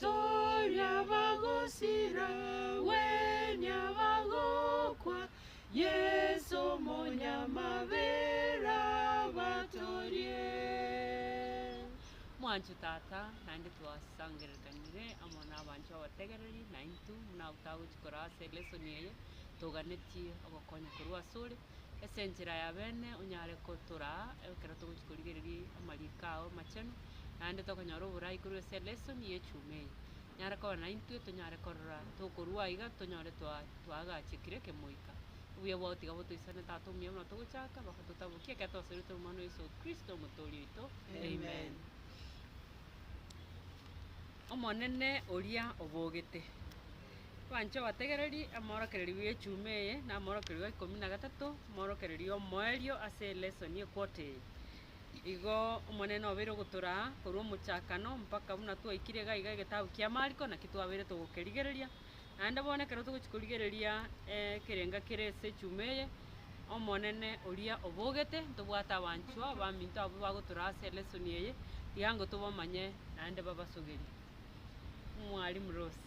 Toria bagosira, gwenia bagokwa, Yeso Omonyamabera abatorie. Mwanche Tata, naende twasangererekanire amo nabanchwa abategereri naintwe, buna ago tagochi koraa ase lesson eye, toganetie ogokonya korwa asore, ase enchera ya beene onyare gotoraa ekero togochia korigereria amariiko ao amachenu, naende tokonyora oboraai korwa ase elesoni y'echuma eye. Nyare koba naintwe tonyare korora tokorwa aiga tonyore twa twaagachekire ekemoika. Obuya bwao tiga botoisane Tata omuya buna togochaka, mpaka totabokie ekero twasoretwe amo na Yeso Kristo Omotoori oito. Amen. Omonene oria obogete. Twanche obategereri amoorokererio bw'echuma eye na amoorokererio gwa ikomi na gatato, moorokererio omoerio ase elesson equote eye. Igo Omonene obeire ogotoraa korwa omochakano mpaka buna twaikire iga iga egetabu kia Mariko naki twabeire togokerigereria. Naende bono ekero togochia korigereria ekerenga kere ase echuma eye, Omonene oria obogete ntobwate abanchwa abaminto abwo bagotoraa ase elesson eye, tiga ngo tobamanye naende babasogerie. Mwalimu Rose.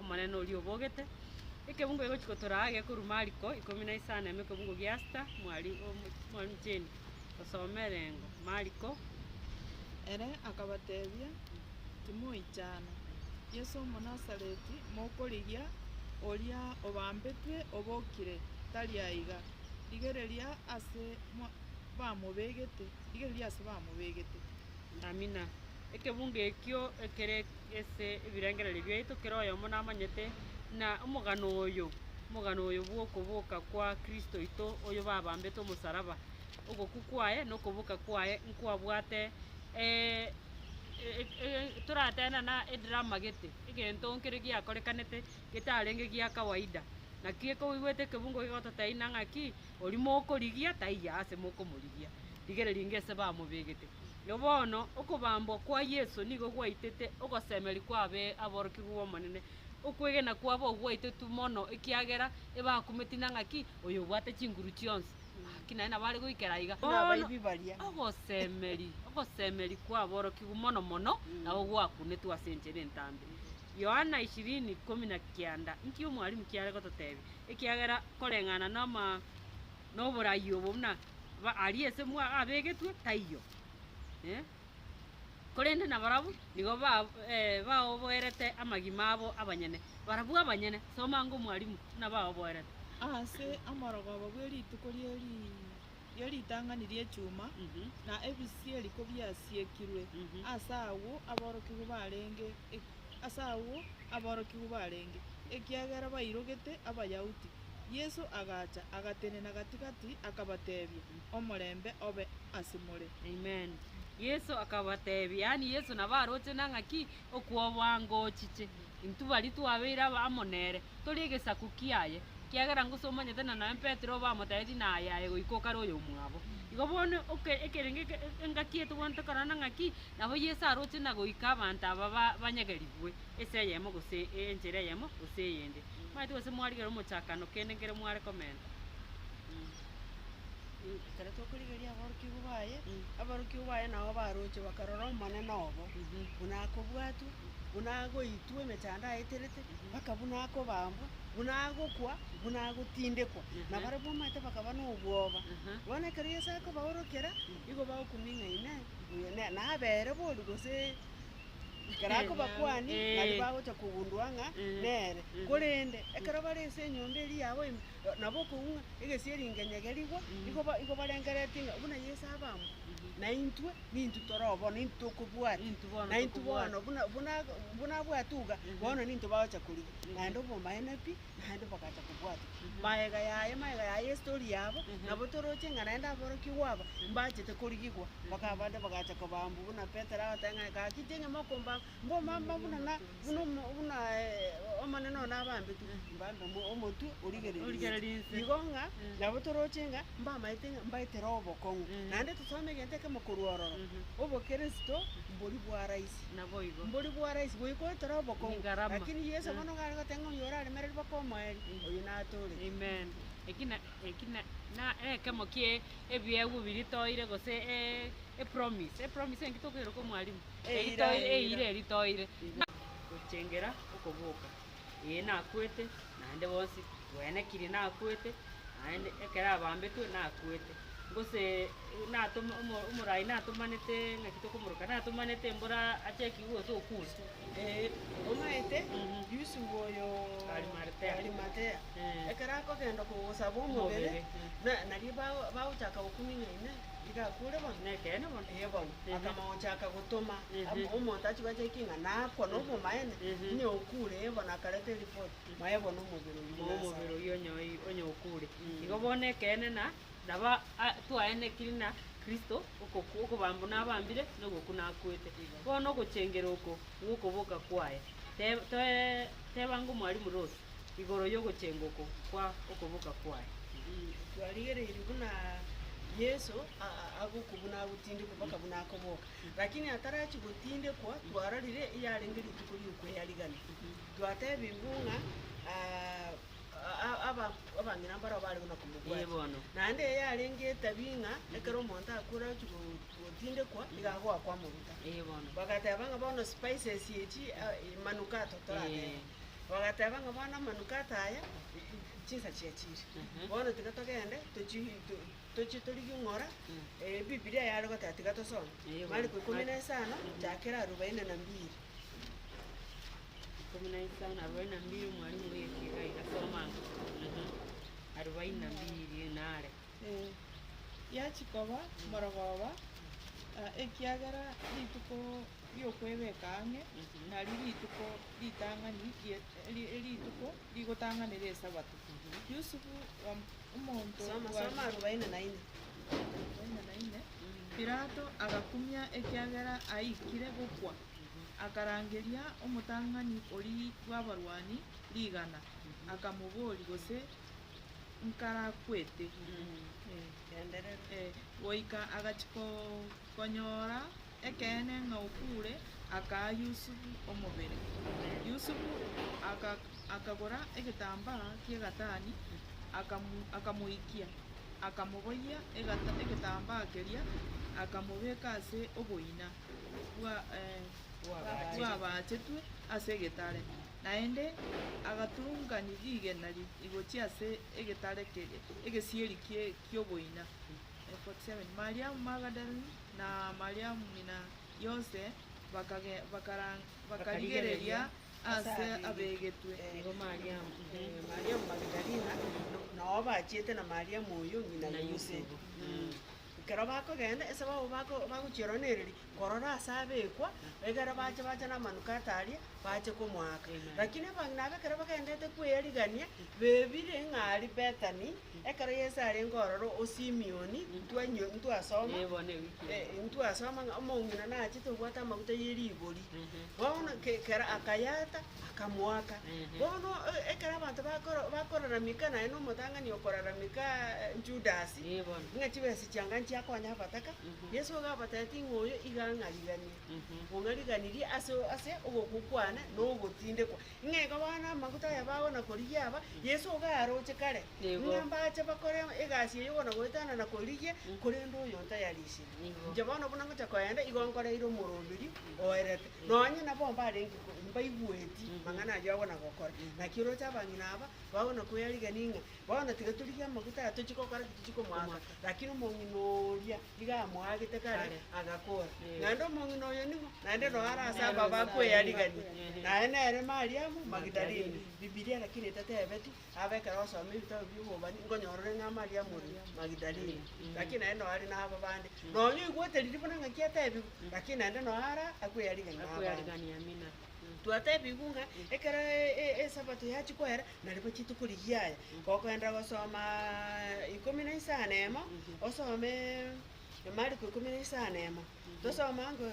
Omonene oria obogete. Ekebungo egochi gotoraa gekorwa Mariko ikomi na isano ime ekebungo gia sita mwari omochenu osome erengo Mariko. Ere akabatebia, Timoichana, Yeso Omonasareti mokorigia, oria obambetwe obokire, tari aiga. Rigereria ase bamobegete. Amina. Ekebunga ekio ekere ase ebirengererio biaito kera oyomo namanyete, na omogano oyo, omogano oyo bw'okoboka kwa Kristo oito, oyo babambete omosaraba, ogokwa kwaye na okoboka kwaye nkwabwate e- e- e- toratebe nana edrama gete, egento nkere giakorekanete getarenge gia kawaida. Naki eke oigwete ekebungo gegototeina ng'aki, oria mokorigia taiyo ase mokomorigia. Rigereria ngese bamobegete. Na bono okobambwa kwa Yeso nigo gwaitete ogosemeria kwabe aborokigwa b'Omonene. Okwegena kwabo gwaitotu mono ekiagera ebakumeti na ng'aki, Oyo obwate chinguru chionsi, ng'aki naye nabo are goikera aiga. Bono ogosemeria, ogosemeria kw'aborokigwa mono mono nabo gwakunetwe ase enchera entambe. Yohana ishirini, ikomi na kianda, Inki Omwalimu kiare gototebia? Ekiagera koreng'ana noma. noborai obo buna ba- aria ase mwa abegetwe, taiyo. Eh. Korende nabarabwo nigo ba- eh, baoboerete amagima abo abanyene, barabwo abanyene, soma ng'a Omwalimu buna baoboerete. Ase omorogoba bwe rituko rie ri- rie ritang'ani ri'echuma, Mhm. na ebisieri kobiasiekirwe, Mhm. ase agwo aborokigwa barenge e- ase agwo aborokigwa barenge, ekiagera bairogete Abayahudi. Yeso agacha, agatenena gati-gati, akabatebia, Omorembe obe ase more. Amen. Yeso akabatebia, yaani Yeso nabo aroche na ng'aki okwobwangochiche. Intwe baria twabeire aba amo nere, tori egesaku kiaye, ekiagera ngose omanyete na nonya Petero bamotebetie naye aye goika okare oyomwabo. Igo bono oke ekerenge eke engaki etobwanete korana ng'aki Nabo Yeso aroche na goika abanto aba banyagerigwe ense eyemo gose enchera eyemo gose eyende. Momanyete gose mwarigera omochakano kende nkere mware komenta. Ekero tokorigereria aborokigwa baye, aborokigwa baye nao baroche bakarora Omonene obo, buna akobwatwa, buna agoitwa emechando aeterete, mpaka buna akobambwa, buna agokwa, buna agotindekwa. Na barabwo omanyete bakaba nobwoba. Bono ekero Yeso akobaorokera, nigo bagokumia ng'a Inee! nabeere boria gose ekero akobakwani naria bagocha kogundua ng'a nere. Korende ekero bare ase enyomba eria yabo ime, nabo okoigwa ng'a egesieri nkenyege rigwa, igo ba- igo barengereretie ng'a buna Yeso abambwe, na intwe nintwe tore oo bono, nintwe tokobwati, na intwe bono buna buna buna abwate iga, bono nintwe bagocha korigwa, naende obomaene pi. naende bagacha kobwatwa. Magega yaye, magega yaye y'estori yabo, nabo toroche ng'a naende aborokigwa aba mbachete korigigwa. Mpaka abande bagacha kobaambwa, buna Petero agateba ng'a, Gaki tienye mokombaamba, mbombaamba buna na- buna omo- buna eh, Omonene one abaambetwe, mbaambe omo- omotwe origereria Origereria inse. inse. Igo ng'a nabo toroche ng'a mbamaete ng'a mbaete roho obokong'u. Naende tosome egento ekemo korwa ororo, obokeresito mbori bwaraisia. naboigo. Mbori bwa rahisi goika otore obokong'u. Nigarama. Lakini Yesu Eh. bono gare goteba ng'a oyio oraremereri baka omoeri, Mm. oyio natooreti. Amen. Eki na, eki na, na ekemo kie ebiegwa biri toire gose e, e promise. E promise enki tokoeroka mwalimu? Eira, Eri toire, eira. eira eri toire. Gochengera okoboka. Ee, nakwete, naende bonsi twenekiri, nakwete, naende ekero abambetwe, nakwete. Gose natoma omoraai natomanete ng'aki tokomoroka, natomanete mbora achaki gocha okuuswa. Ee, omanyete Yusufu oyo Arimatea, Arimatea, ekero akogenda kogosaba omobere, omobere, na- nario bago- bagochaka gokung'ina ime. Iga akure bono? Nekeene bono. Ee bono. Akamochaka gotoma omonto achie gocha eki ng'a nakwa nobomaene, onye okure, ee bono akareta eripoti, moe bono omobere oyio moe omobere oyio onye oi onye okure. Igo bono ekeene na naba a twaenekiri na Kristo okokwa okobambwa nabambire na ogokwa nakwete. Bono ogochengera oko gwokoboka kwaye, teb toe tebanga omwalimu Ross, igoro y'ogochengwa oko kwa okoboka kwaye. Twarigereirie buna Yeso agokwa buna agotindekwa mpaka buna akoboka. Lakini atarachie gotindekwa twarorire yarenge rituko ri'okweyarigania. Twatebirwe ng'a abang'ina mbarabwo bare buna komobwati. Naende eye yarenge etabia ng'a ekero omonto akure agochie gotindekwa nigo agoakwa amaguta. Bagateba ng'a bono spices echi, manukato torateba. Bagateba ng'a, Bono amanukato aya chinsa chiachiire, bono tiga togende tochi to- tochie torigie ng'ora Ebibilia yare goteba tiga tosome. Mariko ikomi na isano, chakera arubaini na mbiri. Ikomi na isano arubaini na mbiri omwalimu oigekire iga iga soma ang'e. Arubaini na mbiri nare. Eh, yachia koba morogoba, ekiagera rituko ri'okwebeka ang'e, nario rituko ritang'ani rituko rigotang'anera Esabato. Yusufu, omonto bwa. Pilato agakumia ekiagera aikire gokwa, akarangeria omotang'ani oria bw'abarwani rigana, akamoboria, Gose nkarakwete? Goika agachia konyora Ekeene ng'a okuure akaa Yusufu omobere. Yusufu akagora egetambaa ki'egatani, akamoikia, akamoboyia egetambaa keria, akamobeka ase oboina bw'abaachetwe ase egetare, naende agatun'gani rigena rigochia ase egetare kere egesieri ki'oboina. Mariamu Magadalene. na Mariamu ng'ina Yose bakarigereria aase abegetwe. Nigo Mariamu Magidalina, na oyo bachiete na Mariamu oyio ng'ina Yusufu. Ekero bakogenda, ense babo bagochieronereria korora aase abekwa, ekero bacha bacha namanukato aria, bache komoaka. Lakini abang'ina abwo ekero bagenderete kweyarigania, bebire ng'a aria Bethani. Ekero Yeso arenge ororo o Simioni, ntwainyo- ntwasoma, eh, ntwasoma ng'a omong'ina nachete obwate amaguta ye rigori. Bono ke- kera akayaata, akamoaka. Bono eh, ekero abanto bakoro- bakorarameka naye na omotang'ani okorarameka Judasi, ng'a chibesa chianga nchiakonya abataka, Yeso iga abatebitie ng'a oyo iga ang'ariganie, ong'ariganirie ase o- ase ogokwa kwane na ogotindekwa. Ng'a iga bono amaguta aya bagona-korigia aba, Yeso iga aroche kare, Nigo. ng'a mbache bakore egasi eye ogona-goetanana korigia, korende oyo ntayarisirie. Nigo. Inche bono buna ngocha koenda, igo nkoreire omoroberio oerete, nonye nabo mbarenge ko- mbaigweti amang'ana ayio agona-gokora. Naki oroche abang'ina aba, bagona-koyarigia ning'e, Bono tiga torigie amaguta aya tochie gokora ki tochie komoaka, Komoaka. lakini omong'ina oria nigo amoagete kare, agakora, naende omong'ina oyo ning'o? Naende nonya are ase aba bakweyarigania, naye nere Mariamu Magidalene. Bibilia lakini etetebeti, abe ekero osoma ebitabu bi'obobani, nkonyora ore ng'a Mariamu ore Magidalene, lakini naende nonya are naba bande. Nonya oigwete riria buna ng'aki atebigwe, lakini naende nonya ara akweyarigania nabande. Twatebigwe ng'a ekero e- e- esabato yachia koera. Naribo chituko rigiya aya, gokoenda gosoma ikomi na isano na emo, osome Mariko ikomi na isano na emo, tosome ango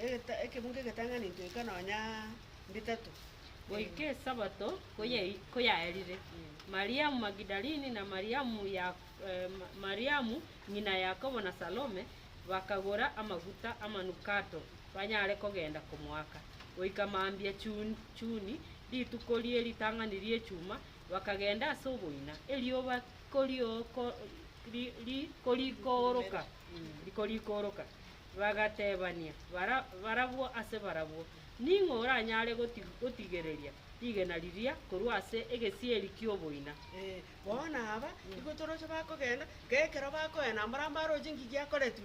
egeta ekebungo egetang'ani ntoika nonya bitato. Goika Esabato koyai- koyaerire, Mariamu Magidalini, na Mariamu ya- eh, Ma- Mariamu ng'ina Yakobo na Salome, bakagora amaguta amanukato banyare kogenda komoaka, goika mambia chuni rituko rie ritang'ani ri'echuma, bakagenda ase oboina, erioba rikorikooroka, bagatebania barabwo ase barabwo, Ning'o oranyare gotigereria rigena riria korwa ase egesieri ki'oboina? Bono aba nigo toroche bakogenda, na ekero bakoenda mbare amo aroche eng'iki yakoretwe,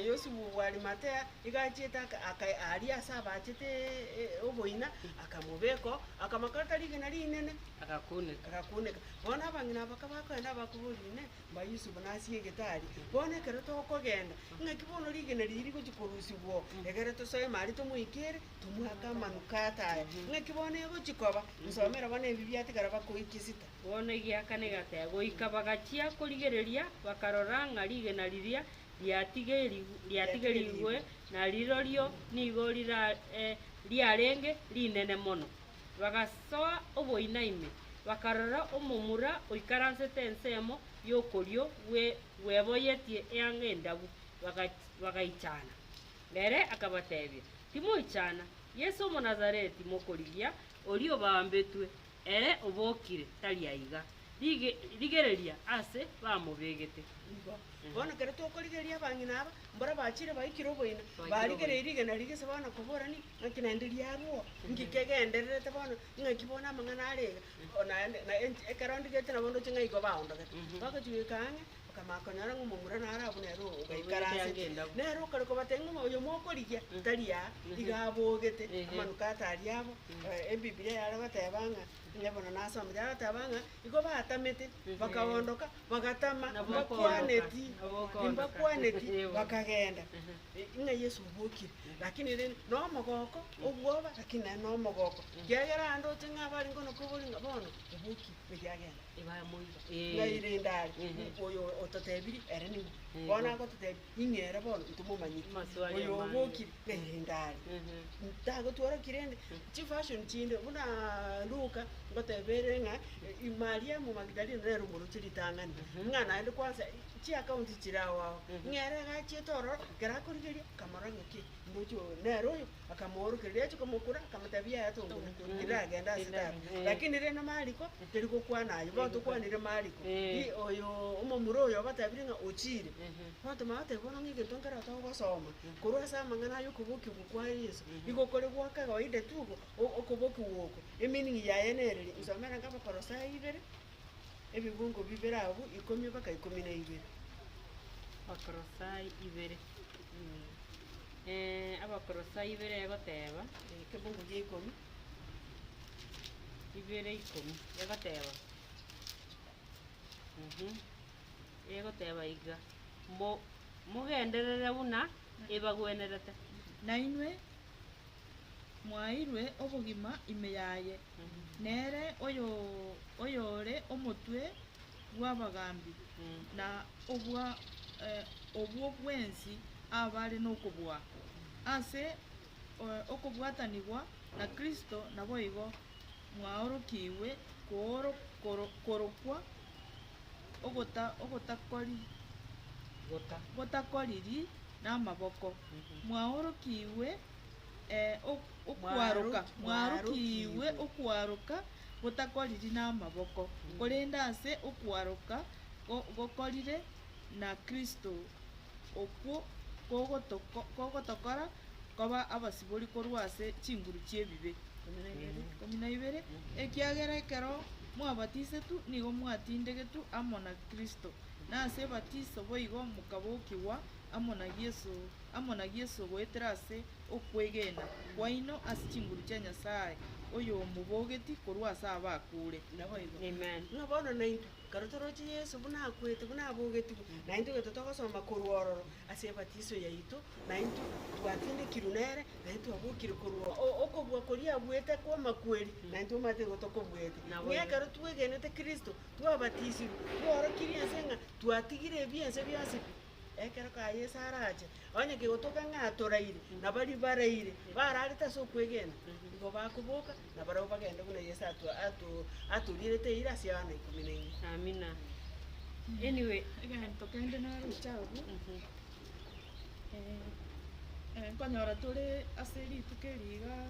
Yosefu bw'Arimathea nigo achiete aka- aka- aria ase abaachete oboina, akamobeka oo, akamokorera rigena rinene, Agakuneka. agakuneka. Bono abang'ina aba kabakoenda abakoboria, Inee! mba Yusufu nase egete aria? Bono ekero tokogenda, ng'aki bono rigena riria rigochia korusigwa oo, egere tosoeme aria tomoike ere, tomwake amanukato aya. Ng'aki bono egochia koba? Nsomere bono ebi biatigara bakoekia Esita. Bono egiaka negatebe. Goika bagachia korigereria, bakarora ng'a rigena riria riatigerigwe na rirorio nigo riarenge rinene mono. Bagasoa oboina ime, bakarora omomura oikaransete ensemo y'okorio bweboyetie eanga endabu, bagaichana. Ere akabatebia, Timoichana, Yeso Omonazareti mokorigia, oria obambetwe, Ere obokire tari aiga. Rigereria aase bamobegete. Ingo. Bono kere tokorigereria abang'ina aba, mbora bachire baikire oboina, barigereiri rigena rigise bono koborani ng'aki naende riarwo, inki kegendererete bono, ing'aki bono amang'ana are iga, o naende, na enti ekero ondigete nabo ndoche ng'a igo baondogete. Bagochi goika ang'e, Bakamanya konyora ng'a omomura naro abwo nere oo ogaikaransete. Nere okarwa kobatebia ng'a oyo mokorigia tari aa, iga abogete amanu kata aria abo. Ebibilia yare goteba ng'a, onye bono nasomete, yare goteba ng'a igo batamete, bakaondoka, bagatama, mbakwaneti, mbakwaneti, bakagenda. Ng'a Yeso obokire, lakini rende na omogoko, obwoba, lakini nere na omogoko, ekiagera ande oche ng'a abarenge onokoboria ng'a bono obokire, meri agende. Bamoira, Ng'ai Ee. rende are? Ehe. Ng'u oyo ototebirie ere ning'u? Ehe. Bono agototebia, Ing'e ere bono, ntomomanyeti. Maswali Oyo amang'e. obokire, ng'ai rende are? Ehe. Ntagotworoki rende chifashion chinde buna Luka ngoteba ere ng'a i- Mariamu Magdalene nere omoroche ritang'ani, ng'a naende kwansa chiakaunti chire ao ao. Ng'ere agachiete ororo, ekero akorigeria, kamorora ng'a kei, Omochie oyo nere oyo akamoorokereria, achia komokura, akamotebia, Yaya tongure, erinde agende ase tara. Lakini rende Mariko tari gokwana ayio, bono tokwanire Mariko, Eeh. i- oyoo omomura oyo obatebirie ng'a ochiire. Bono tomanya goteba bono ng'a egento nkere togosoma, korwa ase amang'ana aya okobokigwa oko kwa Yeso, nigo kore gwa kawaida tu ogo, o- okobokigwa oko, emeaning yaye nere ere, nsomere nka Abakolosai ibere, ebibungo bibere abwo, ikomi mpaka ikomi na ibere. Abakolosai ibere. Eh, Abakolosai ibere egoteba, Ekebugu gia ikomi, ibere ikomi, egoteba, mhm, egoteba iga, Mo- mogenderere buna ebagwenerete. Nainwe mwaeirwe obogima ime yaye, nere oyo- oyore omotwe bw'abagaambi na obwa obwo bwensi abare nokobua. Ase okobwatanigwa na Kristo naboigo mwaorokigwe korokwa ogotakoriri namaboko, mwaorokigwe okwaroka gotakoriri namaboko, korende ase okwaroka gokorire na Kristo, okwo kogotokora koba abasibori korwa ase chinguru chi'ebibe. Ikomi na ibere, Ekiagera ekero mwabatisetwe nigo mwatindegetwe amo na Kristo, na ase ebatiso boigo mokabokigwa amo na Yeso amo na Yeso goetera ase okwegena kwaino ase chinguru chia Nyasae oyomobogeti korwa ase abakuure. Amen. Buna bono naintwe, ekero toroche Yeso buna akwete, buna abogetigwe, naintwe gento togosoma korwa ororo ase ebatiso yaito, naintwe twatindekirwe nere, naintwe twabokire korwa okobua koria abuete kw'amakweri, naintwe omanyete nigo tokobuete. Ng'a ekero twegenete Kristo, twabatisirwe, twaorokirie ense ng'a twatigire ebiense bionsi, Ekero kaye Yeso arache, onye kegotoka ng'a atoraire, na baria baraire, bararete ase okwegena, nigo bakoboka, na barabwo bagende buna Yeso ato- ato- atorierete eira ase Yohana ikomi na ime. Amina. Anyway, Egento kende naroche abwo, eh, eh, nkonyora tore ase rituko eri igaa.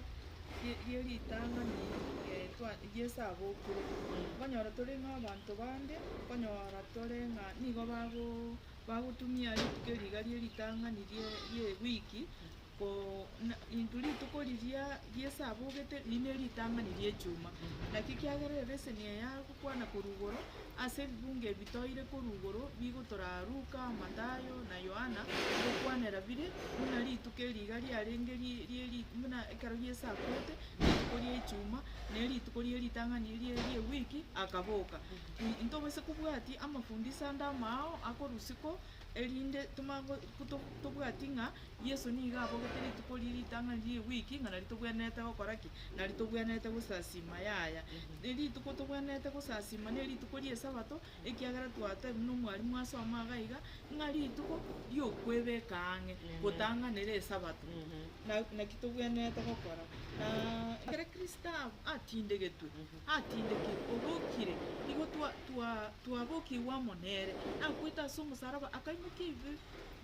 rie- rie ritang'ani eh, twa Yeso abokire, okonyora tore ng'a abanto bande, okonyora tore ng'a nigo bago bagotumia rituko eri iga rie ritang'ani rie rie ewiki, ko- na into rituko riria Yeso abogete, riria ne ritang'ani ri'echuma. Naki ekiagera ebeseni eye Kwana korwa igoro, ase ebibungo ebi toire korwa igoro bigotoraa Luka, Mathayo, na Yohana, ngokwanera bire, buna rituko eri iga riarenge rie rie buna ekero Yeso akwete, na rituko rie Echuma, na erituko rie ritang'ani rie ri'ewiki akaboka. Intobase kobwatia amafundisho ande amao akorusia ko, erinde tomanye go- to- tobwati ng'a Yeso nigo abogete rituko riria ritang'ani rie wiki, ng'a nario tobwenerete gokora ki? Nario tobwenerete gosasiima. Yaya. Rituko tobwenerete gosasiima nerituko ri'esabato, ekiagera twatebwa nomwarimu as'omba iga iga, ng'a rituko riokwebeka ang'e gotang'anera esabato. Na naki tobwenerete gokora? Na ekero Kristo atindegetwe, atindekire, obokire, nigo twa twa twabokigwe amo nere, akwete as'omosaraba, akaimokia ebibe.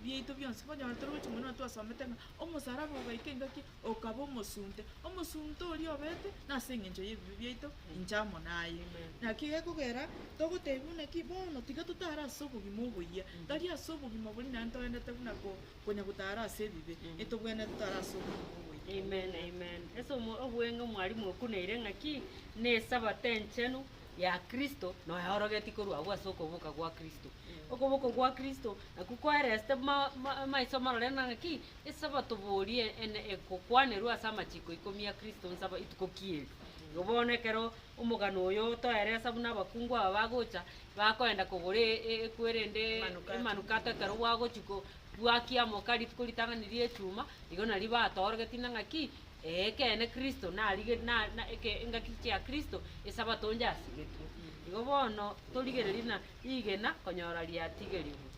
biaito bionsi, monyore tore gochia mono na twasomete ng'a omosalaba ogaika engaki okaba omosunte, omosunte oria obete nase engencho y'ebibe biaito inche amo naye. Naki gekogera togotebia buna ki, bono tiga totare ase obogima oboyia, tari ase obogima boria naende toendete buna ko- konya gotara ase ebibe, etobwenerete totare ase obogima oboyia. Amen, amen. Ase omo- obweng'e mwarimu okunaire ng'aki, Nesabato enchenu, ya Kristo noeorogetie korwa agwo ase okoboka gwa Kristo. Okoboko gwa Kristo nakwo koeresete ma, ma, maiso marore na ng'aki? Isaba toborie ene egokwanerwa ase amachiko ikomi a Kristo nsaba ituko ki eri. Igo bono ekero omogano oyo otoeresa buna abakungu aba bagocha, bakoenda kogora e- e- ekwere ende Emanukato. emanukato ekero gwagochia ko- gwakia amoka rituko ritang'ani ria echuma, igo nario batoorogetie na ng'aki? Ekeene Kristo narigetie, na, na, eke, engaki chia Kristo, Esabato onde asigetwe. Igo bono torigererie na rigena konyora riatigerigwe.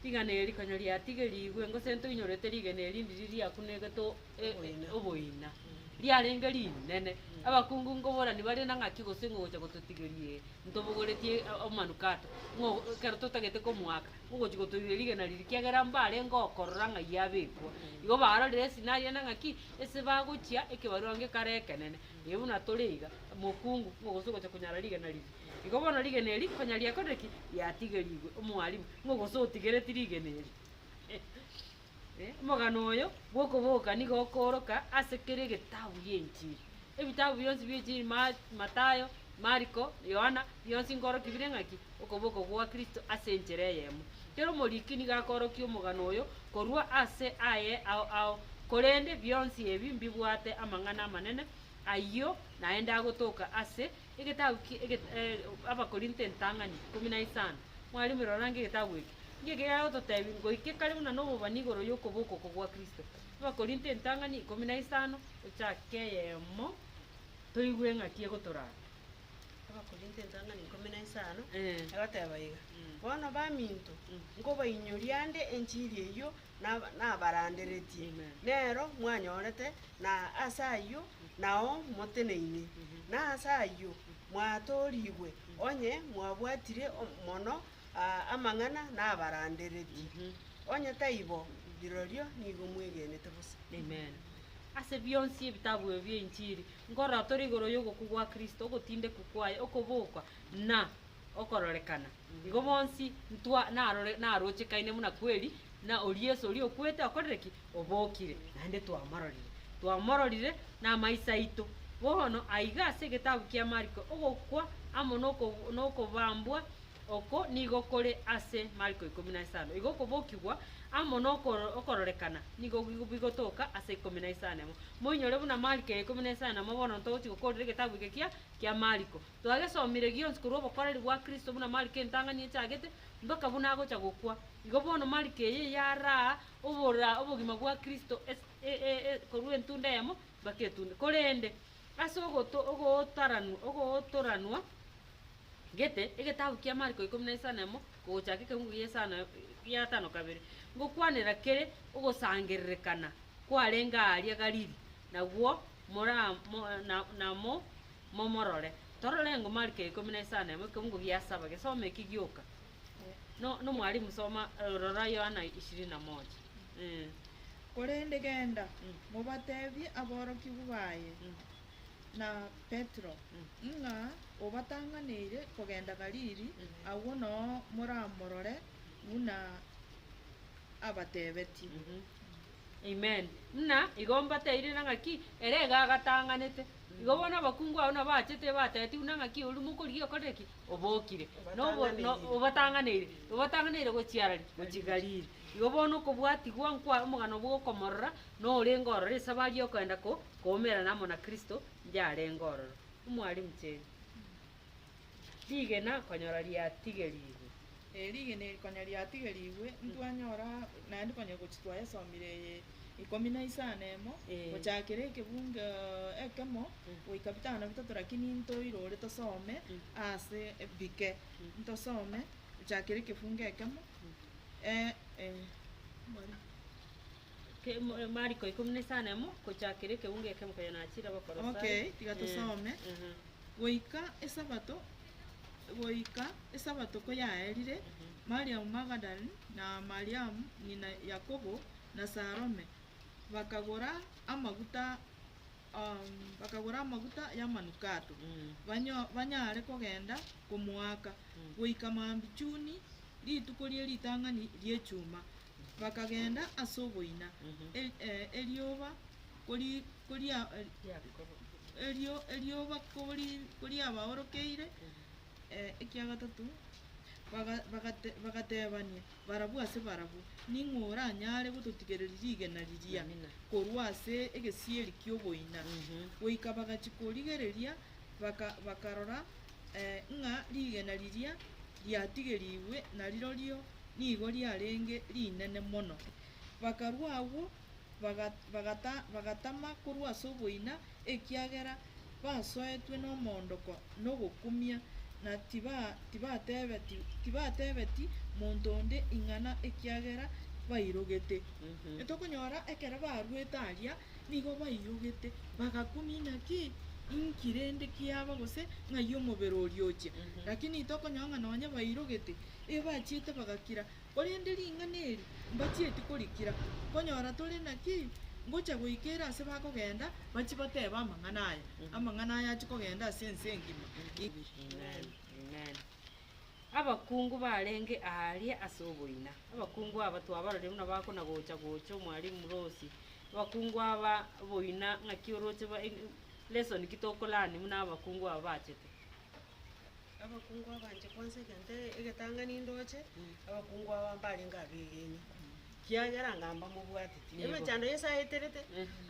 Rigena eri konya riatigerigwe, gose ntoinyorete rigena erindi riria riakunegete o- e- e- oboina, riarenge rinene. Abakungu nkoborani bare na ng'aki gose ng'ogocha gototigeria ee, ntobogoretie a- amanukato, ng'o ekero totagete komoaka, ogochia gotoiria rigena riria, ekiagera mbarenge okorora ng'a iyee abekwa. Igo barorire esinari ende ng'aki, ase bagochia ekebarua gekare ekenene, ee buna tore iga, mokungu, ng'a gose ogochia konyara rigena riria. Igo bono rigena eri konya riakorire ki? Riatigerigwe, omwalimu, ng'a gose otigereti rigena eri. Omogano oyo bw'okobogoka nigo okooroka ase kera egetabu gi'Enchiri. Ebitabu bionsi bi'Enchiri, Ma, Matayo, Mariko, Yohana, bionsi nkoorokia bire ng'aki? Okobogoka gwa Kristo ase enchera eyemo. Kera omoriki nigo akoorokia omogano oyo korwa ase aye ao ao, korende bionsi ebi mbibwate amang'ana amanene, ayio naende agotoka ase egetabu ki, eget, eh, Abakorinto entang'ani ikomi na isano. Mwarimu, rora ng'a egetabu eke. Inki eke kegototebi? Ngoike kare buna nobobani igoro y'okoboko oko gwa Kristo. Abakorinto entang'ani ikomi na isano, gochaka eyemo, toigwe eng'aki egotoraa. Abakorinto entang'ani ikomi na isano, egoteba iga, Bono baminto, nkobainyoria ande enchiri eyio nab- nabaranderetie, nero mwanyorete, na ase ayio nao moteneinie, na ase ayio mwatoorigwe, onye mwabwatire o- mono amang'ana nabaranderetie, onye taibo, rirorio nigo mwegenete bosa. Ase bionsi ebitabu ebi bi'enchiri nkorotore igoro y'ogokwa gwa Kristo, ogotindekwa kwaye, okobokwa, na okororekana, igo bonsi ntwa narore narochekaine buna kweri, na oria Yeso oria okwete okorire ki? Obokire, naende twamororire. Twamororire namaiso aito. Bono aiga ase egetabu kia Mariko, ogokwa amo nokob nokobambwa Oko nigo kore ase Mariko ikomi na isano. Igo okobokigwa amo na okoro- okororekana nigo gi- bigotoka ase ikomi na isano emo. Moinyore buna Mariko ya ikomi na isano emo bono ntogochia gokoorera egetabu eke kia kia Mariko. Twagesomire gionsi korwa obokoreri bwa Kristo buna Mariko entang'ani echagete mpaka buna agocha gokwa. Igo bono Mariko eye yaraa obora obogima bwa Kristo es- e- e- e- korwa entunda eyemo mpaka etunda. Korende ase ogoto- ogootaranwa ogootoranwa. Gete, egetabu kia Mariko ikomi na isano emo kogochaka ekeungu gia isano gia gatano kabere, Ngokwanera kere ogosangererekana kwarenge aaria Galili, nagwo mora mo, na, na mo, momorore. Torore engo Mariko ikomi na isano emo ekeungu gia saba gesoma eki gioka. No, no mwalimu soma, eh, rora Yohana ishirini na moja. Eh. Korende genda, mobatebie aborokigwa baye, na Petero, ng'a obatang'aneire kogenda Galili, agwo noo moramorore buna abatebetie. Amen. Ng'a igo mbateire na ng'aki ere iga agatang'anete. Igo bono abakungu ao nabo achete ebatebetie buna ng'aki oria mokorigia okore ki? Obokire. Na obo- no- Obatang'aneire. obatang'aneire, obatang'aneire gochia ara ri? Gochia Galili. Igo bono okobwatigwa nkwaye omogano bw'okomorora, na orenge ororo esabari y'okoenda ko- Koumerana amo na Kristo yarenge ororo. Omwalimu cheri, rigena konyora riatigerigwe. Ee, rigena eri konya riatigerigwe, ntwanyora naende konya gochi twayesomire eye ikomi na isano emo, gochakera ekebungo ekemo goika bitano na bitato lakini ntoirore tosome ase bike, ntosome gochakera ekefungo ekemo, eh, eh, mwalimu. Mariko ikomi na isano emo, gochakera ekeunga eke mokonya naachire Abakolosai. Okay, tiga tosome. Eh, eh. Goika esabato goika esabato koyaerire, Mariamu Magadalene, na Mariamu ng'ina Yakobo, na Salome, bakagora amaguta um, bakagora amaguta y'amanukato, Mm. banyo- banyare kogenda komoaka, goika maambi chuni, rituko rie ritang'ani ri'echuma. Bakagenda ase oboina, erioba koriabaorokeire ekia gatato, bagatebania barabwo ase barabwo, Ning'o oranyare gototigereria rigena riria korwa ase egesieri ki'oboina? Goika bagachia korigereria, bakarora ng'a rigena riria riatigerigwe narirorio. nigo riarenge rinene mono. Bakarua agwo, bagatama korwa ase oboina, ekiagera basoetwe nomoondoko na ogokumia, na tibatebeti monto onde ing'ana ekiagera bairogete. Tokonyora ekero baruete aria nigo bairogete, bagakumia inaki inki rende kiaba gose ng'ai omobere oria ochia. Lakini tokonyora ng'a nonye bairogete. Ebachiete bagakira, korende ring'ana eri mbachieti korikira. Konyora tore naki? Ngocha goika ere ase bakogenda, bachie batebe amang'ana aya. Amang'ana aya achie kogenda ase ense engima. Amen. Abakungu barenge aaria ase oboina. Abakungu aba twabaroria buna bakona gocha gocha omwalimu Rosi. Abakungu aba boina ng'aki oroche ba lesson ki tokolearn buna abakungu aba bachete. Abakungu abanche kwansa egento egetang'ani ndoche, abakungu aba mbarenge abegenwa, kiagera anga mbamobwateti. Emechando yesa yaeterete,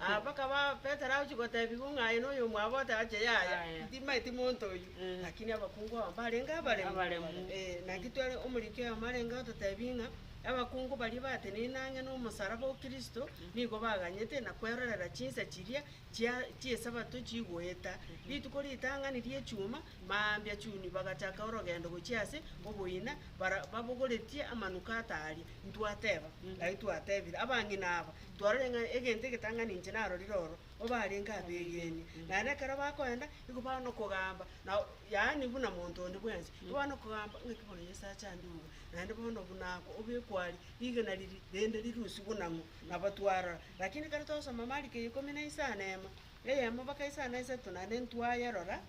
aa mpaka ba Petero agochia gotebigwa ng'a aye noyo omwabo ote ache yaya, Yaya. timanyeti monto oyio. Mm. Lakini abakungu aba mbarenge abaremu. Abaremu. Eh, naki tware omoriki oyomo arenge gototebia ng'a, abakungu baria bateneine ang'e na omosalaba o Kristo, nigo baganyete na kwerorera chinsa chiria, chia chi'Esabato chigoeta, rituko ritang'ani ri'Echuma, mambia chuni bagachaka orogendo gochia ase oboina, bara babogoretie amanukato aria. Ntwateba, aye twatebire, abang'ina aba, twarorire ng'a egento egetang'ani inche narorire oro, bo barenge abegeni, naende ekero bakoenda, nigo bare nokogamba, na yaani buna monto onde bwensi, nigo bare nokogamba ng'aki bono Yeso acha ande obo, naende bono buna obekwa aria, rigena riria rende rirusie buna ng'o. Nabo twarora. Lakini kare twasoma Mariko ya ikomi na isano na emo, eyemo mpaka isano na isato, naende ntwayerora,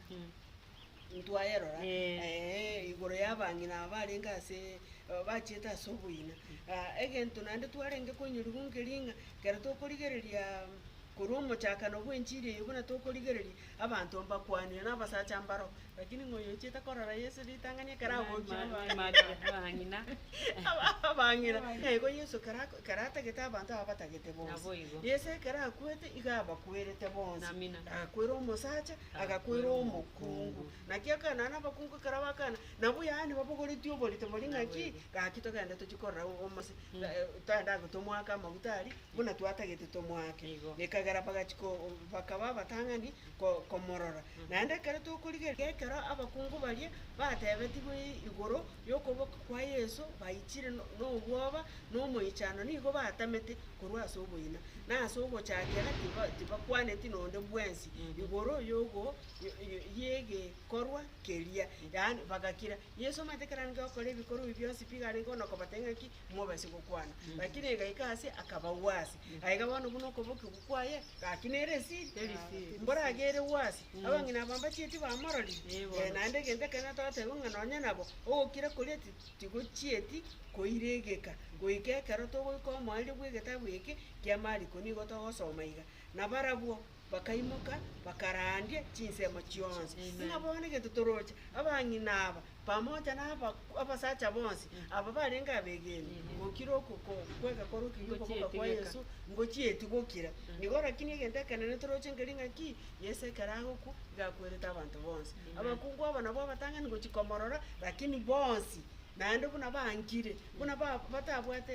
ntwayerora, ee, igoro y'abang'ina aba barenge ase, bachiete ase oboina. Aa egento naende twarenge koinyoriwu nkeri ng'a ekero tokorigereria korwa omochakano bw'enchiri eyio buna tokorigereria. Abanto mbakwanire nabasacha mbaro, lakini ng'ai ochiete korora Yeso ritang'ani ekero agochia abang'ina? Naigo Yeso ekero atagete abanto aba abatagete bonsi. Yeso ekero akwete igo abakwerete bonsi. Agakwera omosacha, agakwera omokungu. Naki akana na abakungu ekero bakana, nabwo yaani babogoretie oborito boria ng'aki, gaki togende tochie korora omose, togende aye tomoake amaguta aria, buna twatagete tomoake. Ekagera bagachika bakaba abatang'ani komorora. Naende ekero tokorigereria ekero abakungu baria batebetigwe igoro y'okoboko kwa Yeso, baichire nobwoba na omoichano nigo batamete korwa ase oboina, na ase ogochakera tibakwaneti nonde bwensi igoro y'egekorwa keria, yaani bagakira. Yeso omanyete ekero arenge gokora ebikorwa ebi bionsi, piga arenge ona kobatebia ng'a ki? mobaise gokwana. Lakini agaika ase, akabagwa ase. Aiga bono buna okobokigwa kwaye, gaki nere esiri, mboro agere gwase. Abang'ina aba mbachieti bamororire, eh, naende egento ekenene togotebiwa ng'a nonye nabo, ogokira koria ti- tigochieti koiregeka, goika ekero togoika omoerio bw'egetabu eke kia Mariko nigo togosoma iga. Nabarabwo. bakaimoka, bakaraandie chinsemo chionsi, ng'a bono egento toroche, abang'ina aba, pamoja na aba- abasacha bonsi aba barenge abegeni, gokira okoko- kwega kore okegimba boka kwa Yeso, ngochietigokira. Nigo rakini egento ekenene toroche nkeri ng'a ki, Yeso ekero agokwa, iga akwerete abanto bonsi. Abakungu aba nabwo abatang'ani gochia komorora, rakini bonsi naende buna bankire, buna ba- batabwate.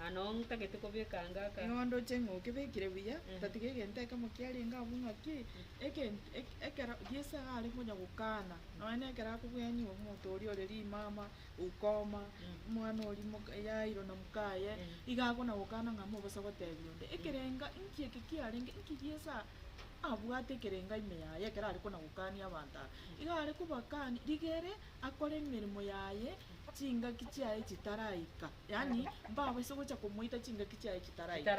Aa nao ntagete kobeka anga aka. Nigo ndoche ng'a okebekire buya, otatiga egento ekemo kiarenge abwo ng'a ki, egento eke ekero Yeso iga are konya gokana, nonya na ekero akobwenywa omonto oria ore rimama, ukoma, omwana oria moka Yairo na mokaye, iga akona gokana ng'a mobaso gotebia onde. Ekerenga nki eke kiarenge, nki Yeso a- abwate ekerenga ime yaye ekero are kona gokania abanto aba? Iga are kobakani, rigere akore emeremo yaye chingaki chiaye chitaraika. Yaani, mbabaise gocha komoita chingaki chiaye chitaraika.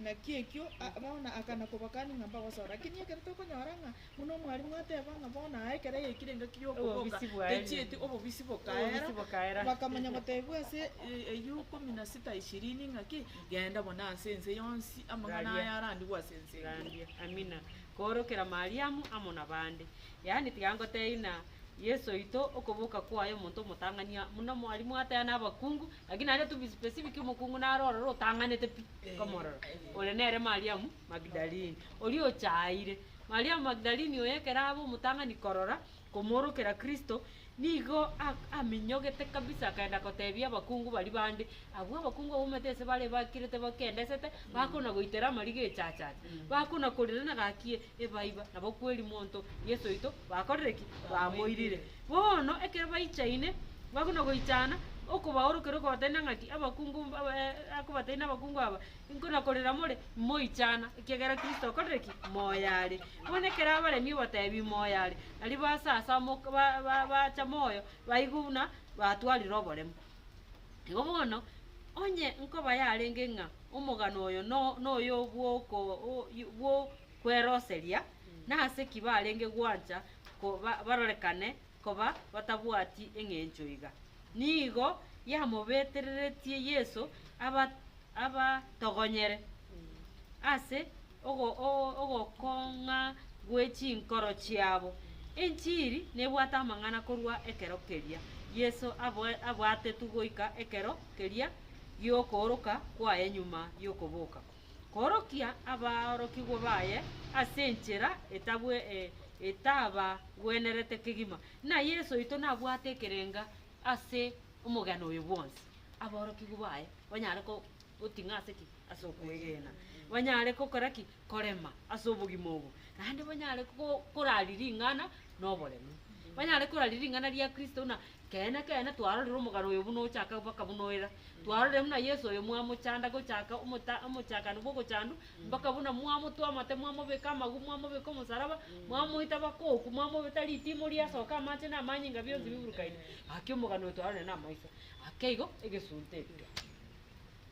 Naki ekio, bono aka nakobakani ng'a mbagosore. Lakini ekero tokonyora ng'a buna omwalimu ateba ng'a bono aa ekero yaikire engaki y'okoboka techieti, obobisi bokaera, bakamanya gotebigwa ase eyio kumi na sita ishirini ng'a ki, genda buna ase ense yonsi amang'ana aya arandigwe ase ense engiya. Amina. Koorokera Mariamu amo nabande. Yaani tiga ngotebi ng'a Yeso oito okoboka kwaye omonto omotang'ani muno mwari mwatea nabakungu, lakini naende to be specific omokungu naro ororo otang'anete pi komorora, ore nere Mariamu Magdalini, oria ochaayire. Mariamu Magdalini oyo ekero abe omotang'ani korora komoorokera Kristo, Nigo aminyogete kabisa, akaenda goteebia abakungu baria bande. Abwo abakungu abaumete ise bare bakirete bakendesete, bakona goitera amariga echachacha, bakona korera na gaki e, Ebaiba, nabo kweri monto Yeso oito bakorire ki? Bamoirire. Bono ekero baichaine, bakona goichana, okobaorokera okobateebia ng'aki, abakungu mb- aba- e- akobateebia abakungu aba, Inko nakorera more, imoichana, ekiagera Kristo okorire ki? Moyo are. Bono ekero abaremi obotebi moyo are, nario baase ase amok ba ba bacha moyo, baigwe buna batwarire oboremo. Igo bono, onye nkoba yarenge ng'a omogano oyo no noyo bw'oko o yi bw'okweroseria, nase ki barenge gwancha ko ba barorekane koba batabwati eng'encho iga, nigo yamobetereretie Yeso aba abatogonyere ase ogo ogokong'a gwe chinkoro chiabo. Enchiri nebwate amang'ana korwa ekero keria Yeso aboe abwatetwe goika ekero keria giokooroka kwaye nyuma yokoboka. koorokia abaorokigwa baye ase enchera etabagwenerete kegima. Ng'a Yeso oito nabwate ekerengo ase omogano oyo bwonsi, abaorokigwa baye banyare goting'a ase ki? Ase okwegena. Banyare gokora ki? Korema ase obogima obo. Naende banyare korari ring'ana noboremu. Banyare korari ring'ana ria Kristo buna Keene, keene, twarorire omogano oyo buna ochaka mpaka buna oira. Twarorire buna Yeso oyo mwamochanda gochaka omota omochakano bwa ogochandu mpaka buna mwamotua amate, mwamobeka amaguu, mwamobeka omosaraba, mwamoita mpaka okwo, mwamobeta ritimori riasoka amache na amanyinga bionsi biburukaine. Gaki omogano oyo twarorire na amaiso. Gaki igo egesunte eke.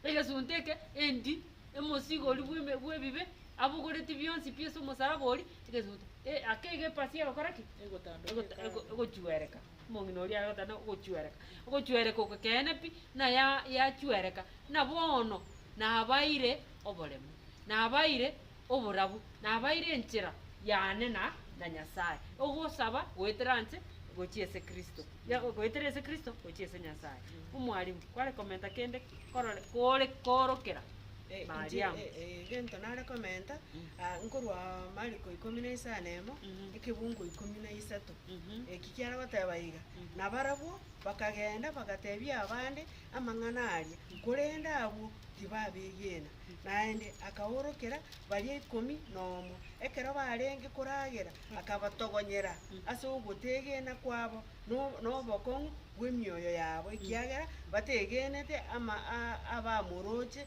Egesunte eke endi emosigori bw'eme bw'ebibe abogoreti bionsi pi ase omosaraba oria, egesunte. E- gaki igo epasia egokora ki? Egotandwa Egota- ego- egochuereka. Omong'ina oria agotana ogochwereka, ogochwereka okokeene pi, na ya, yachwereka, na bono nabaeire oboremu, nabaeire oborabu, nabaeire enchera yane na, na Nyasae, ogosaba goetera anche gochia ase Kristo, ya, goetera ase Kristo gochia ase Nyasae. Omwalimu, kware komenta kende korore, kore, korokera Eh, inche, Mariamu. eh, eh, egento nare komenta, ah, nkorwa Mariko ikomi na isano na emo, Mhm. ekebungo ikomi na isato, Eki kiara goteba iga, nabarabwo bakagenda bagatebia abande amang'ana aria, korende abwo tibabegena. Naende akaorokera baria ikomi nomo, ekero barenge koragera, akabatogonyera ase ogotegena kwabo no- nobokong'u bw'emioyo yabo, ekiagera bategenete ama abamoroche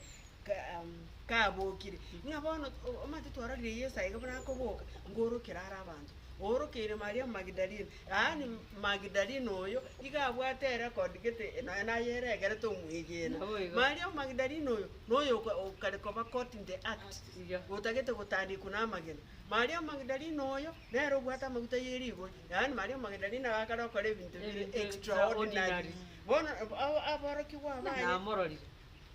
kabokire. Ng'a bono omanyete twarorire Yeso aiga buna akoboka, ngorokera are abanto. Oorokeire Mariamu Magidalene. Yaani, Magidalene oyo iga abwate erecord gete nonya naye ere egerete omwegena. Naboigo. Mariamu Magidalene oyo noyo oka- okare koba caught in the act, Iga. otagete gotandikwa namagena. Mariamu Magidalene oyo nere obwate amaguta ye rigori. Yaani, Mariamu Magidalene iga akare gokora ebinto bire Ebinto extraordinary. extraordinary. Bono ab- abo- aborokigwa Buna baye namororire.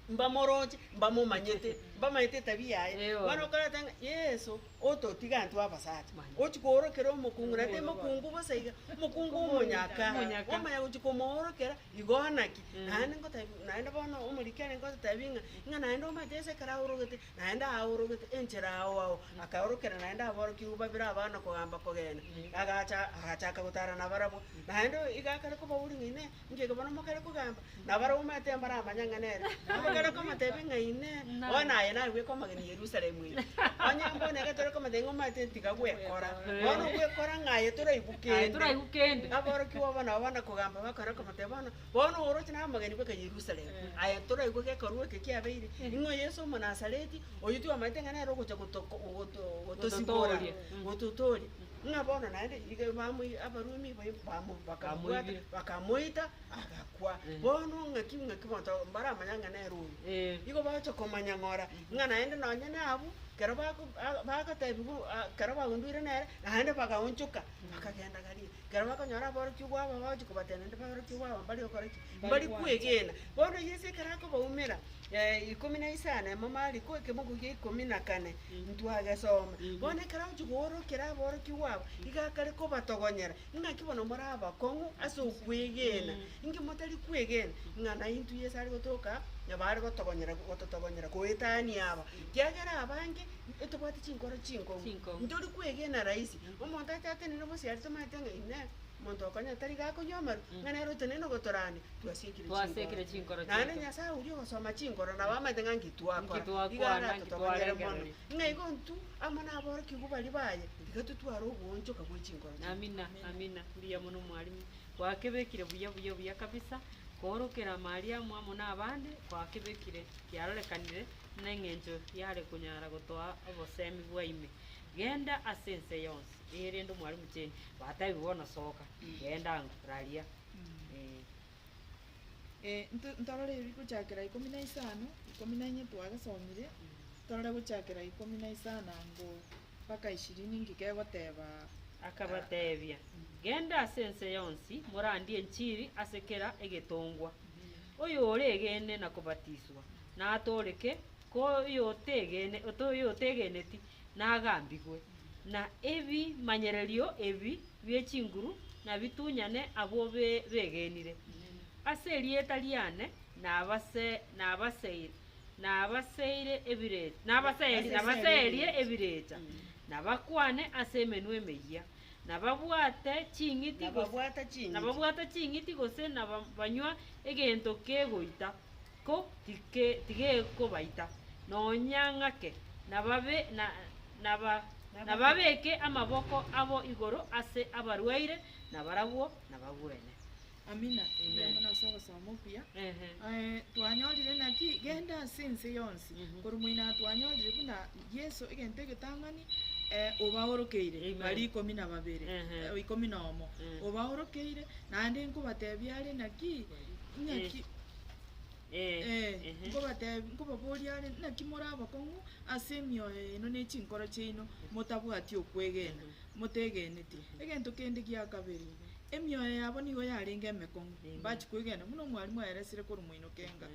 mbamoroche, mbamomanyete, mbamanyete etabia yaye. Eeh, bono. Bono okorenta ng'a Yeso Ototiga intwe abasacha. Gochia koorokera omokungu, na timokungu bosa iga, mokungu omonyaka, omanya gochia komoorokera, igo naki naende ngotaebia, naende bono omoriki are ngototebi ng'a, ng'a naende omanyete ense ekero aorogete, naende aorogete enchera ao ao, akaorokera naende aborokigwa babere abana kogamba kogenda, agacha agachaka gotara nabarabwo. Naende iga akare koba oria ng'a inee, Inki eke bono mokare kogamba? Nabarabwo omanyete mbaramanya ng'a nere. Mokare komoteebia ng'a Inee, bono aye nagwe komogeni Yerusalemu ime? Onye mbono egete ore komoteebia ng'a omanyete tiga gwekora, bono ogwekora ng'a aye toraigwe kende. Aborokigwa obo nabo bana kogamba bakare komoteebia bono, bono oroche naro omogeni bweka Yerusalemu, aye toraigwe gekorwa eke kiabeire. Ing'o Yesu Omonasareti, oyio tibwamanyete ng'a nere ogocha goto- goto- gotosibora, gototooria? ng'a bono naende rirorio bamoiy- Abarumi bai- bamo- bakamobwata, Bamoibire. bakamoita, agakwa. Eh. Bono ng'aki ng'aki bonto mbaramanya ng'a nere oyo. Eh. Igo bagocha komanya ng'ora, ng'a naende nonye nabwo, kero bako ah bagotebigwa ah kero baundwire nere, naende bagaonchoka, bakagenda Galili. Kero bakonyora aborokigwa babo bagochia kobatebia naende aborokigwa babo mbare gokora ki? Mbare Mbare gwancha. kwegena. Bono Yeso ekero akobaumera. ikomi na isano ya Mariko, ekeboko kia ikomi na kane, ntwagesoma, Bono ekero ochia koorokera aborokigwa aba, iga akare kobatogonyera, Ing'aki bono more abakong'u ase okwegena, inki motari kwegena ng'a naintwe Yeso are gotoka nabo are gotogonyera gototogonyera goetania aba? Kiagera abange ntobwati chinkoro chinkong'u, ntori kwegena rahisi, omonto achatenene bosio aria tomanyete ng'a inee. omonto okonyene tari gakonywa amaru, ng'a nere otenene na ogotorania, twasiekire Twasiekire chinkoro chiaito. Naende Nyasae oria ogosoma chinkoro nabo amanyete ng'a nki twakora, Nki twakwana, igo nki aratotogonyere mono. twarengereria. Ng'a igo intwe amo naborokigwa baria baye, tiga totware ogoonchoka bwe chinkoro chiaito. Amina, amina, mbuya mono mwalimu. Gwakebekire buya buya buya kabisa, koorokera ime aria amo amo na abande, gwakebekire kiarorekanire, buna eng'encho yare konyara gotoa obosemi bwaime. Genda ase ense yonsi. Ee, rende omwalimu cheni. Batebie bono, Soka, genda ango, raria. Ee. Eh, nto- ntorore ebi gochakera ikomi na isano, ikomi na inye twagesomire, torore gochakera ikomi na isano ango mpaka ishirini nki kegoteba. Akabatebia, Genda ase ense yonsi, morandie enchiri ase kera egetongwa. Oyoregene na kobatiswa, natooreke, ko oyotegene, oto- oyotegeneti, nagambigwe, na ebimanyererio ebi bie chinguru nabitunyane abwo begenire. Ase erieta riane nabaseerie ebirecha, na bakwane ase emenwa emeyia, na babwate ching'iti gose na banywa egento kegoita. Giko tigekobaita, nonya ng'ake, nababeke amaboko abo igoro ase abarwaire, na barabwo nabagwene. Amina. Mbuya mono ase ogosoma okuya. Twanyorire naki? Genda ase ense yonsi, korwa moino aa twanyorire buna Yeso egento egetang'ani obaorokeire baria ikomi na babere, ikomi na omo, obaorokeire, naende nkobatebia are naki? Ng'aki? Eh, Ee, ehe. nkobateb- nkobaboria are, naki more abakong'u ase emioyo yaino ne chinkoro chiaino, motabwati okwegena, motegeneti? Egento kende gia kabere, emioyo yabo nigo yarenge emekong'u, Amen. mbachi kwegena buna omwalimu aeresire korwa moinoko enga.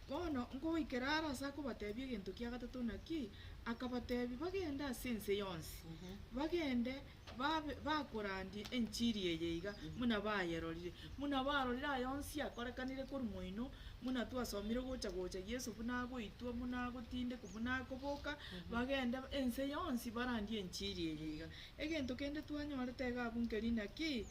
Bono nkogoikera are ase akobatebia egento kia gatato naki, akabatebia bagende ase ense yonsi, Mhm. bagende Babe bakorandia enchiri eye iga, buna bayerorire, buna barorire aye onsi akorekanire korwa moino, buna twasomire ogocha gocha Yeso buna agoitwa, buna agotindekwa, buna akoboka, bagende ense yonsi barandie enchiri eye iga. Egento kende twanyorete iga abwo nkeri naki,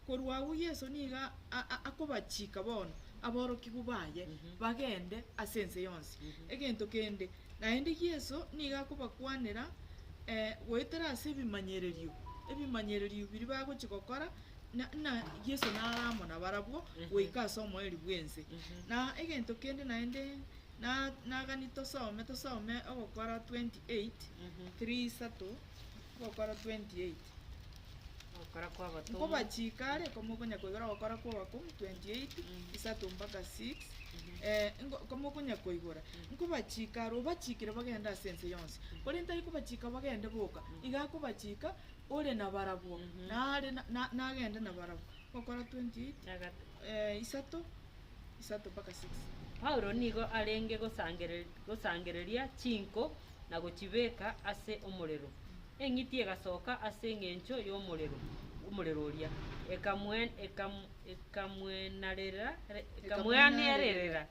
korwa agwo Yeso niga a- a- akobachika bono aborokigwa baye, bagende ase ense yonsi. Egento kende, Naende Yeso nigo akobakwanera goetera ase ebimanyererio, ebimanyererio biria bagochia gokora, na, na Yeso nare amo nabarabwo goika ase omoerio bw'ense. Na egento kende naende na, nagani tosome, tosome ogokora twenty eight, three isato, ogokora twenty eight. Ogokora kw'abatomwa. Nkobachiika are, komokonya koigora ogokora kw'abakungu, 28, isato mpaka 6, eh, nko- komokonya koigora, nkobachiika are, obachiikire bagende ase ense yonsi, korende tari kobachiika bagende boka, iga akobachiika ore nabarabwo, nare na- na- nagende nabarabwo. Ogokora 28, Na gata- eh, isato, isato mpaka 6. Paulo nigo arenge gosangere- gosangereria chinko na gochibeka ase omorero. Eng'iti egasoka ase engencho y'omorero, omorero oria, ekamweanerera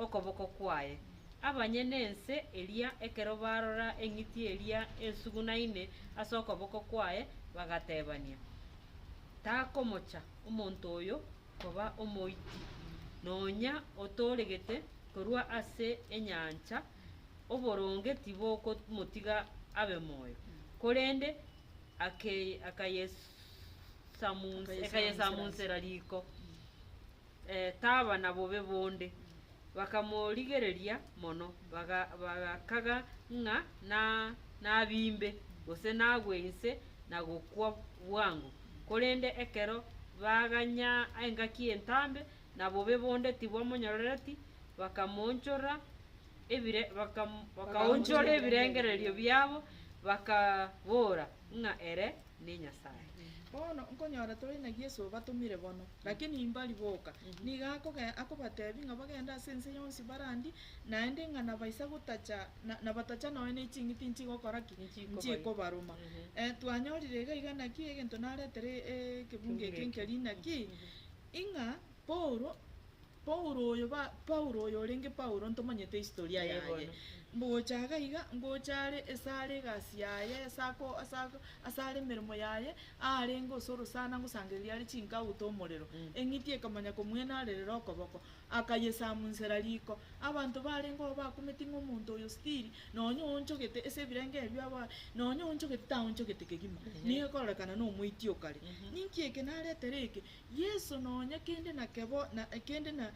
okoboko kwaye. Abanyene ense eria ekero barora eng'iti eria ensugunaine ase okoboko kwaye, bagatebania, Takomocha omonto oyo koba omoiti, nonya otooregete korwa ase enyancha oboronge tibokomotiga abe moyo, korende akayesamunsera riko, taba na bobe bonde. Bakamorigereria mono, bagakaga ng'a nabimbe, gose nagwe inse na gokwa bwango. Korende ekero baganya engaki entambe na bobe bonde tibwamonyorereti, bakamoonchora ebire, baka, bakaonchora ebirengererio biabo, bakabora ng'a ere ne nyasae. Bono nkonyora tore na Yeso obatomire bono, lakini imbari boka. Nigo akoge, akobatebi ng'a bagende ase ense yonsi barandie, naende ng'a nabaisa gotacha, na, nabatacha nonya ne ching'iti nchigokora ki? Nchikobaita. Nchikobaruma. Ehe. Eh, twanyorire iga iga naki egento naretere e- e- ekebunga eke Ekebunga eke. nkeri naki, Ing'a Paulo, Paulo oyo ba, Paulo oyo orenge Paulo, ntomanyete historia Ee, yaye. bono. Ngocha iga iga, ngocha are esare egasi yaye, asako, asako, asare emeremo yaye, arenge ase orosana ngosangereria are chinka aute omorero. Mm. Eng'iti ekamanya komwenaarerera okoboko, akayesamunsera riko. Abanto barenge oo bakumeti ng'a omonto oyo stiri, nonye oonchogete ase ebirengo ebio aba, nonye oonchogete taonchogete kegima, Ehe. nigo ekororekana nomoiti o kare. Mhm. Ninki eke naretere eke? Yeso nonya kende nakebo na kende na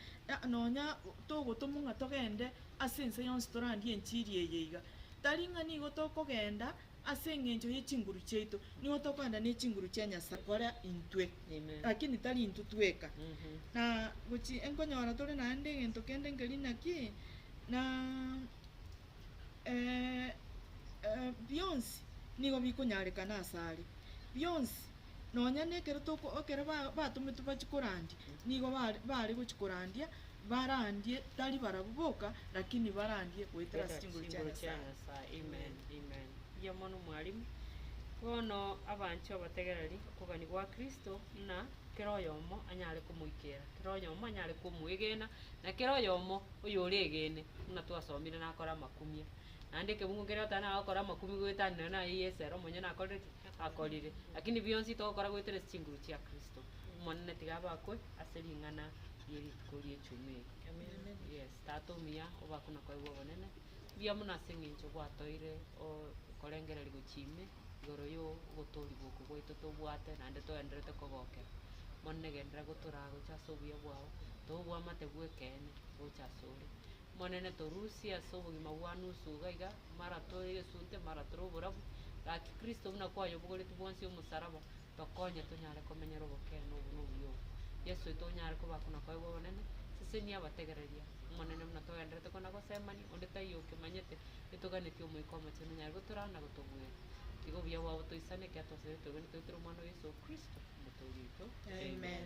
nonya togotomwa ng'a togende ase ense yonsi torandie enchiri eye iga. Tari ng'a nigo tokogenda ase engencho ye chinguru chiaito, nigo tokogenda ne chinguru chia Nyasae gokora intwe, lakini tari intwe tweka. Na gochi enkonyora tore naende egento kende nkeri naki, na bionsi nigo bikonyarekana asare, bionsi. nonya nekero toko ekero ba batometwe bachie korandia, nigo ba bare gochia korandia, barandie tari barabwo boka, rakini barandie goetera ase chinguru chia Nyasaye. Amen. Mbuya mono mwalimu. Bono abanchwa abategereri okogania gwa Kristo buna kera oyomo anyare komoikera, kera oyomo anyare komoegena, na kera oyomo oyoregene buna twasomire nakore amakumia. Naende ekebungo keria otari nagokora amakumia goetanera naye Yeso ere omonyene akorire ki? akorire, lakini bionsi togokora goeteresa chinguru chia Kristo. Omonene tiga abakwe ase ring'ana rie rituko rie chuma eri. Yes, Tata omuya, obakwe na kwaigwa obonene. Mbuya mono ase eng'encho gwatoire o- korengereria gochia ime igoro yo ogotoorigwa oko gwaito tobwate naende toenderete kogokera. Omonene genderera gotoraa gocha ase obuya bwao, tobe obwamate bw'ekeene gocha asore. Omonene torusie ase obogima bwa nusu iga iga, mara tore egesunte, mara tore oborabu, gaki Kristo buna kwayobogoretie bwonsi omosaraba, tokonye tonyare komenyera obokeene obo na obuya obo. Yeso oito onyare koba kona koegwa obonene, sesenia abategereria. Omonene buna togenderete kona gosemani, onde taiyo okemanyete, etoganetie Omoika Omochenu onyare gotoraa na gotobueria. Tiga obuya bwao botoisane, ekiagera twasabete obweene toetire Omwana o Yeso Kristo, Omotooria oito. Amen.